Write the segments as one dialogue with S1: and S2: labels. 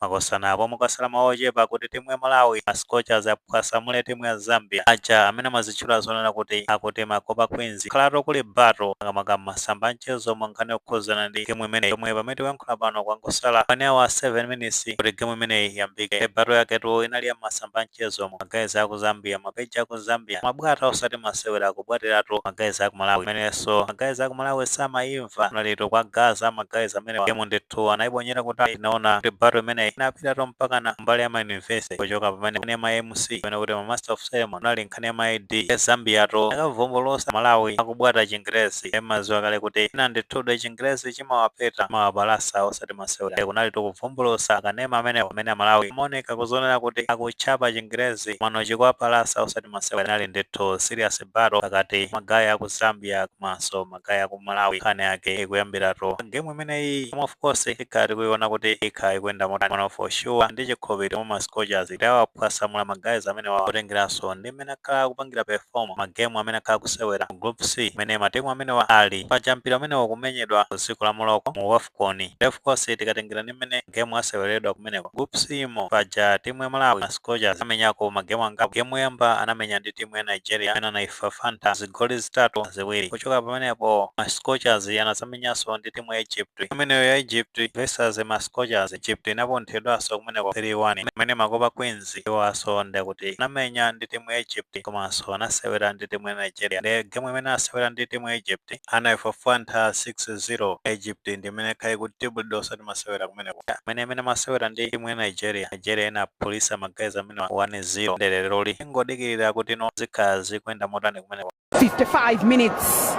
S1: Makosana apo kwangosala maola ochepa kuti timu ya Malawi ma Scorchers aphwasamule timu ya Zambia. Aja amene amazitchula zonena kuti akuti ma Copper Queens kwakhalatu kuli battle makamaka mmasamba anchezo mu nkhani yokhuzana ndi game imeneyi yomwe pamene tikuyankhula pano kwangosala 1 hour 7 minutes kuti game imeneyi iyambike. Nde battle yaketu inali ya mmasamba anchezomu. Ma guys aku Zambia, ma page aku Zambia, amabwata osati masewera akubwatiratu ma guys aku Malawi. Pamenenso ma guys aku Malawi samayimva. kunali kutukwanizana ma guys amenewa game ndithu anaibonyera kutali tinaona kuti battle imeneyi inapitatu mpakana mbali ya ma university kuchoka pamene kunali ma mc amene akuti ma master of ceremony inali nkhani ya ma id ya zambia tu akuvumbulutsa amalawi akubwata chingerezi mukudziwa kale kuti ena ndithu nde chingerezi chimawapeta chimawapalasa osati masewera kunali kuvumbulutsa akanema amene amene amalawi amaoneka kuzionera kuti akutchapa chingerezi mano chikuwapalasa osati masewera inali ndithu serious battle pakati pa ma guys aku zambia komanso ma guys aku malawi nkhani yake ikuyambiratu mu game imeneyi koma of course ikhala tikuiona kuti ikhala ikuyenda motani koma for sure ndi chikhulupiriro mwa ma scorchers kuti awaphwasamula ma guys amenewa potengeranso ndi mmene akhala akupangira perform magemu amene akhala akusewera mu group c imene matimu amenewa ali paja mpira umenewu ukumenyedwa ku dziko la morocco mu waf Afcon nde of course tikatengera ndi mmene game asewereredwa kumeneko groups imo paja timu ya Malawi ma Scorchers anamenyako ma game angapo game yoyamba anamenya ndi timu ya Nigeria imene anaifafanta zigoli zitatu kwa ziwiri kuchoka pamenepo ma Scorchers anazamenyanso ndi timu ya Egypt imeneyo ya Egypt versus ma Scorchers Egypt inapunthidwanso kumeneko 3-1 pamene ma Copper Queens iwo nawonso ndikuti anamenya ndi timu ya Egypt komanso anasewera ndi timu ya Nigeria nde game imene anasewera ndi timu ya Egypt anaifafantha 6-0 Egypt ndi imene yakhala ikuchitidwa bully osati masewera kumeneko pamene imene amasewera ndi timu ya Nigeria Nigeria inaphulisa ma guys amenewa 1-0 nde leroli tingodikira kuti no zikhala zikuyenda motani kumeneko 55 minutes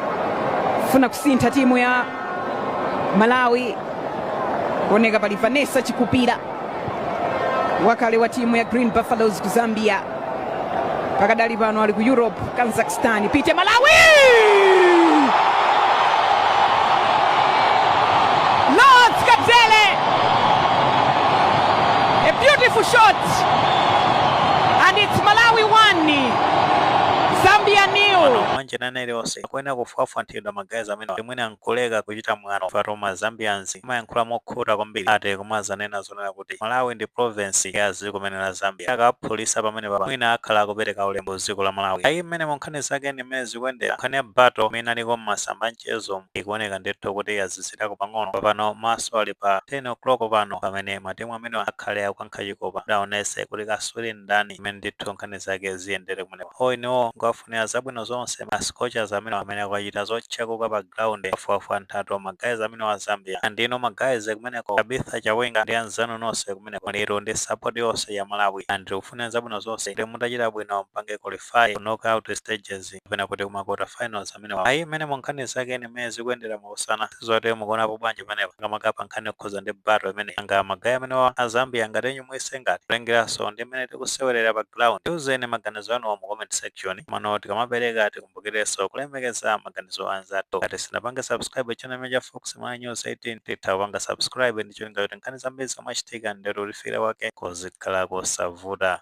S1: ikufuna kusintha timu ya malawi kuoneka pali vanessa chikupira wakale wa timu ya green buffaloes ku zambia pakadali pano ali ku europe kazakhstan pite malawi Rose Kabzere a beautiful shot and it's malawi 1 Zambia nil. Mwano manje ina iliyonse akuyenera kufwafwanthidwa ma guys amenewa kuti mwina nkuleka kuchita mwano pajatu ma Zambians amayankhula mokhuta kwambiri ati kumazanena zonena kuti malawi ndi province ya dziko limene la zambia akawaphulisa pamenepapa mwina akhala akupereka ulemu ku dziko la malawi ayi mmenemo nkhani zake ndi mmene zikuyendera nkhani ya battle imene inaliko mmasamba anchezo ikuoneka ndithu kuti yazizirako pang'ono papano maso ali pa 10 o'clock pano pamene matimu amenewa akhale akukankha chikopa kuti aonese kuti kaswiri ndani imene ndithu nkhani zake zikuyendera kumeneko o inewo ndikuwafunira zabwino zonse ma scorchers amene amene akachita zothyakuka pa ground wafuwafu anthaka ma guys amene wa zambia and inu ma guys kumeneko tabitha chawinga ndi anzanu nonse kumeneko muli tu ndi support yonse ya malawi and tikufunira zabwino zonse kuti mutachita bwino mpange qualify ku knockout stages kapena kuti kuma quarter finals amenewa ayi imeneyo nkhani zake ndi mmene zikuyendera musanasiye zati mukuonapo bwanji pamenepa makamaka pa nkhani yokhuza ndi battle imeneyi kaya magayi amenewa a zambia ngati inu muyese ngati kulengeranso ndi mmene tikusewerera pa ground tiuzeni maganizo anuwo mu comment section komano tikamapereka tikumbukirenso kulemekeza maganizo a anzathu ngati simunapange subscribe channel ino ya fox ma news 18 mutha kupanga subscribe ndi cholinga kuti nkhani zambiri zomwe zimachitika ndithu kukufikirani kwake kuzikhala kosavuta